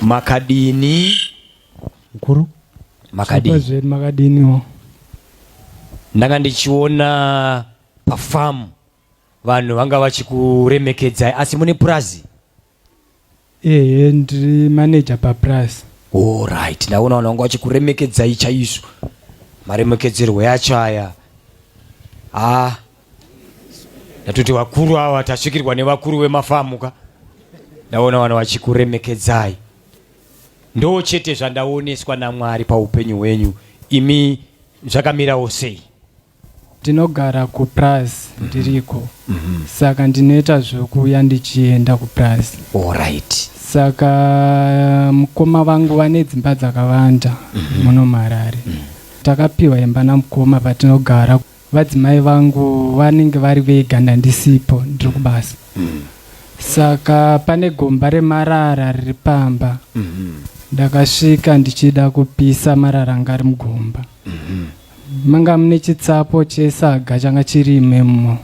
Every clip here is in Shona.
makadini mkuru makadini makadiniwo ndanga ndichiona pafamu vanhu vanga vachikuremekedzai asi mune purazi Ehe ndiri manager papurazi. Horaiti ndaona vanhu vanga vachikuremekedzai chaizvo. Maremekedzerwo yacho aya. Haa ndatoti vakuru ava tasvikirwa nevakuru vemafamu ka. Ndaona vanhu vachikuremekedzai. Ndoo chete zvandaoneswa naMwari paupenyu hwenyu imi zvakamirawo sei? Ndinogara kupurazi ndiriko saka ndinoita zvokuuya ndichienda kupurazi. Alright. Saka mukoma vangu vane dzimba dzakawanda muno muHarare. Takapiwa imba namukoma patinogara. Vadzimai vangu vanenge vari vega ndandisipo ndiri kubasa. Saka pane gomba remarara riri pamba. Ndakasvika ndichida kupisa marara anga ari mugomba. manga mune chitsapo chesaga changa chiri imemo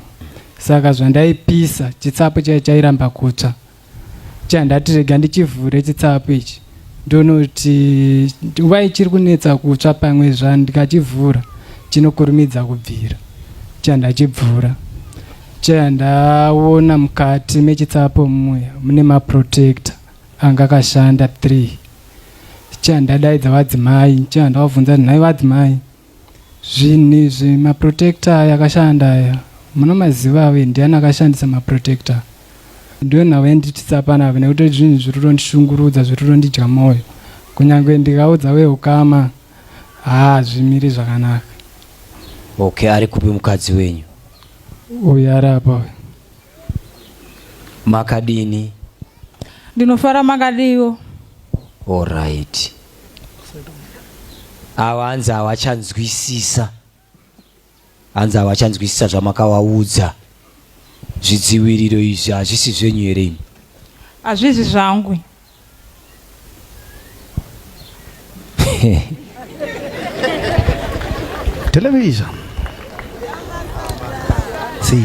saka zvandaipisa chitsapo chai chairamba kutsva chandati rega ndichivhure chitsapo ichi ndonoti nguva ichiri kunetsa kutsva pamwe zva ndikachivhura chinokurumidza kubvira chandachibvura chandaona mukati mechitsapo muya mune maprotector Anga akashanda three nxaa ndadaidza vadzimai nxaa ndavabvunza nhai vadzimai zvinhu izvi maprotector aya akashanda aya munomaziva avo ndiani akashandisa maprotector ndiwo nhau yanditisa panapa nekuti zvinhu zviri kutondishungurudza zviri kutondidya mwoyo kunyange ndikaudza veukama haazvimiri zvakanaka okay ari kupi mukadzi wenyu uyu ari apa uyu Makadini? Ndinofara makadiwo. All right. Ava hanzi havachanzwisisa. Hanzi havachanzwisisa zvamakavaudza. Zvidziviriro izvi hazvisi zvenyu here imi? Hazvisi zvangu. television see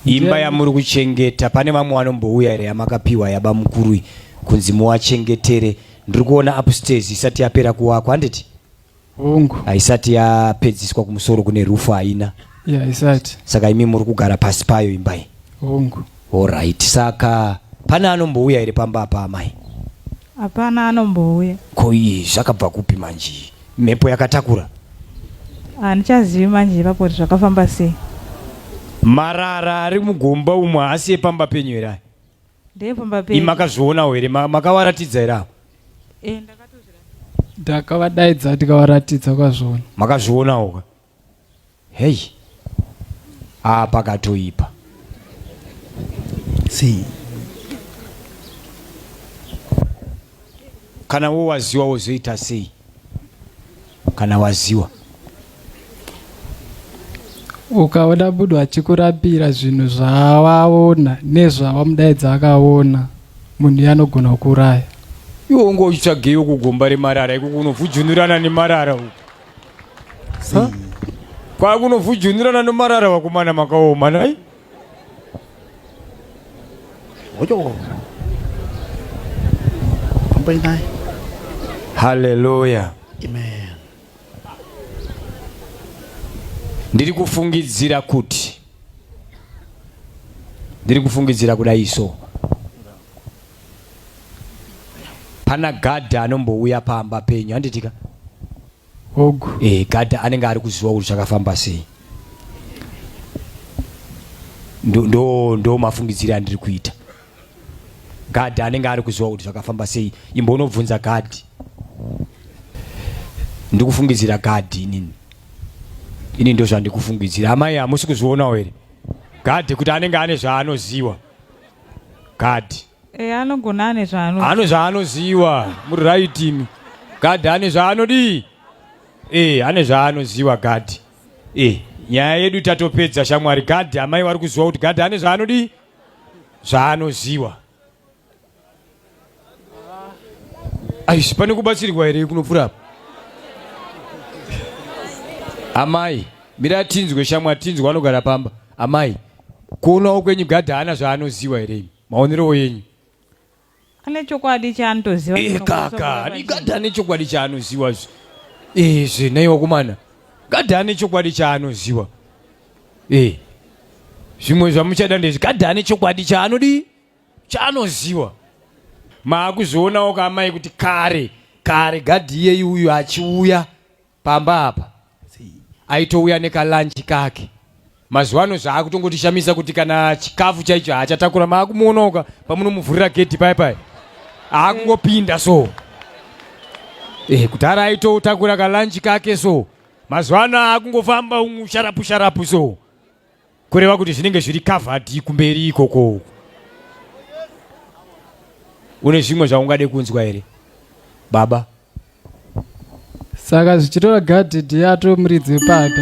imba yamuri kuchengeta pane vamwe vanombouya here yamakapiwa yaba mukuru kunzi muwachengetere ndiri kuona upstairs isati yapera kuwakwa handiti hongu haisati yapedziswa kumusoro kune rufu haina ya haisati saka imi muri kugara pasi payo imbai hongu orit saka pane anombouya here pamba apa amai hapana anombouya ko iyi zvakabva kupi manje mhepo yakatakura handichazivi manje ipapo kuti zvakafamba sei marara ari mugomba umwe haasi epamba penyu here aya ndepamba pei makazvionawo here makawaratidza here apo eh, ndakavadaidza ndikavaratidza kwazvona makazvionawo ka heyi aa pakatoipa sei Kana wo waziwa wozoita sei? Kana waziwa ukaona munhu achikurambira zvinhu zvawaona nezvawamudaidza akaona munhu yanogona kukuraya iwe unge uchitsvageyo kugomba remarara iko kunovhujunurana nemarara uku kwakunovhujunurana nemarara vakomana makaoma nai Oyo. Pampai naye. Hallelujah. Amen. Ndiri kufungidzira kuti ndiri kufungidzira kuda iso pana gadhi anombouya pamba penyu handitika Hogu. Eh, gadha anenge ari kuziwa kuti zvakafamba sei. Ndo ndo ndo mafungidzire andiri kuita. Gadha anenge ari kuziwa kuti zvakafamba sei. Imbo unobvunza gadhi. Ndikufungidzira gadhi inini. Ini ndo zvandikufungidzira. Amai hamusi kuzvionawo here? Gadhi kuti anenge ane zvaanoziwa. Gadhi. Eh, anogona ane zvaano. Ano zvaanoziwa muri right imi. God ane zvaanodii? Eh, ane zvaanoziwa God. Eh, nyaya yedu tatopedza shamwari. God amai wari kuziwa kuti God ane zvaanodii? Zvaanoziwa. Aish, pane kubatsirwa here kunopfura apa? Amai, mira tinzwe shamwari tinzwe anogara pamba. Amai, kuonawo kwenyu God haana zvaanoziwa here imi? maonerewo yenyu ane chokwadi chaanotoziva Eh, kaka ani gadha ane chokwadi chaanoziwa zve Eh, zve nhai wakomana gadha ane chokwadi chaanoziwa Eh, zvimwe zvamuchada ndezvi gadha ane chokwadi chaanodii chaanoziwa maakuzvionawo kaamai kuti kare kare gadhi iyeyi uyu achiuya pamba apa aitouya nekalanchi kake mazuva ano zvaakutongotishamisa kuti kana chikafu chaicho haachatakura maakumuonaoka pamunomuvhurira gedhi pai pai aakungopinda so eh, kudhara aitotakura kalanchi kake so mazuva ano aakungofamba umu sharapu sharapu so kureva kuti zvinenge zviri kavhadhi kumberi ikoko uku une zvimwe zvaungade kunzwa here baba saka zvichitora gadhi ndiye atove muridzi wepapa